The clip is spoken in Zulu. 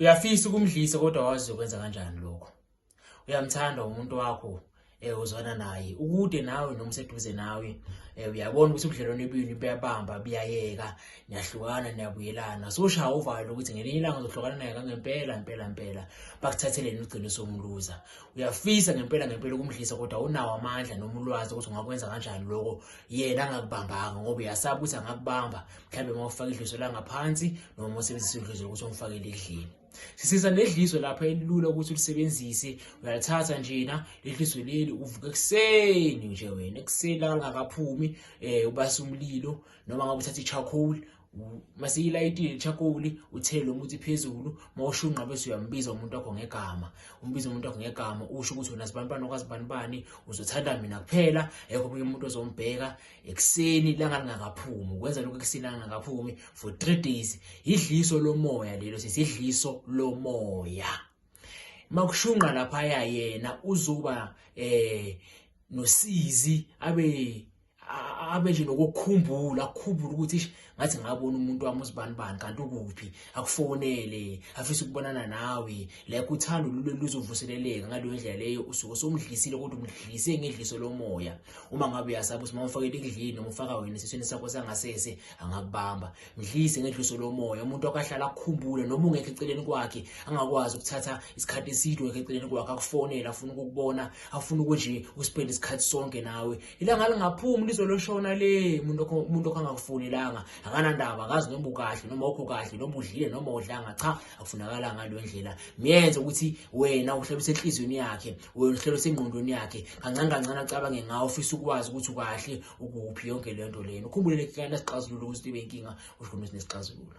uyafisa ukumdlisa kodwa wazi ukwenza kanjani lokho uyamthanda umuntu wakho eh uzwana naye ukude nawe noma useduze nawe eh uyabona ukuthi ubudlelwane bini buyabamba buyayeka niyahlukana niyabuyelana so ushaya uvalo ukuthi ngelinye ilanga uzohlukana naye kangempela impela impela bakuthatheleni uqiniso umluza uyafisa ngempela ngempela ukumdlisa kodwa unawo amandla noma ulwazi ukuthi ungakwenza kanjani lokho yena angakubambanga ngoba uyasaba ukuthi angakubamba mhlawumbe uma ufaka idliso langaphansi noma uma usebenzisa idliso lokuthi umfakele edlini sisiza nedliso lapha elilula ukuthi ulisebenzise uyalithatha njena ledliso leli uvuka ekuseni nje wena ekuseni langakaphumi um eh, ubasa umlilo noma ngabe uthatha i-charcoal masiyilayitile ichakoli uthele umuthi phezulu mawushunqa bese uyambiza umuntu wakho ngegama umbiza umuntu wakho ngegama usho ukuthi wena sibanibani okwazibanibani uzothanda mina kuphela ekho omunye umuntu ozombheka ekuseni ilanga lingakaphumi ukwenza lokho ekuseni ilanga lingakaphumi for three days yidliso lomoya lelo sesidliso lomoya makushunqa laphaya yena uzoba eh nosizi abe abe nje nokukhumbula akhumbule ukuthi ngathi ngabona umuntu wami uzibanibani kanti ukuphi akufonele afisa ukubonana nawe like uthando lule luzovuseleleka ngaleyo ndlela leyo usuke somdlisile kodwa umdlise ngedliso lomoya uma ngabe uyasaba ukuthi mawufakele ekudlini noma ufaka wena esisweni sakho sangasese angakubamba mdlise ngedliso lomoya umuntu akahlala akukhumbule noma ungekho eceleni kwakhe angakwazi ukuthatha isikhathi eside ungekho eceleni kwakhe akufonele afuna ukukubona afuna ukuthi nje uspend isikhathi sonke nawe ilanga lingaphumi lizoloshona le muntu umuntu okangakufunelanga akanandaba akazi noma ukahle noma okho kahle noma udlile noma udlanga cha akufunakala ngalo ndlela miyenze ukuthi wena uhlebise enhlizweni yakhe wena uhlebise engqondweni yakhe kancane kancane acabange ngawo ufisa ukwazi ukuthi ukahle ukuphi yonke le nto lena ukhumbule lekhana sixazululo ukuthi ibe inkinga usho ukuthi nesixazululo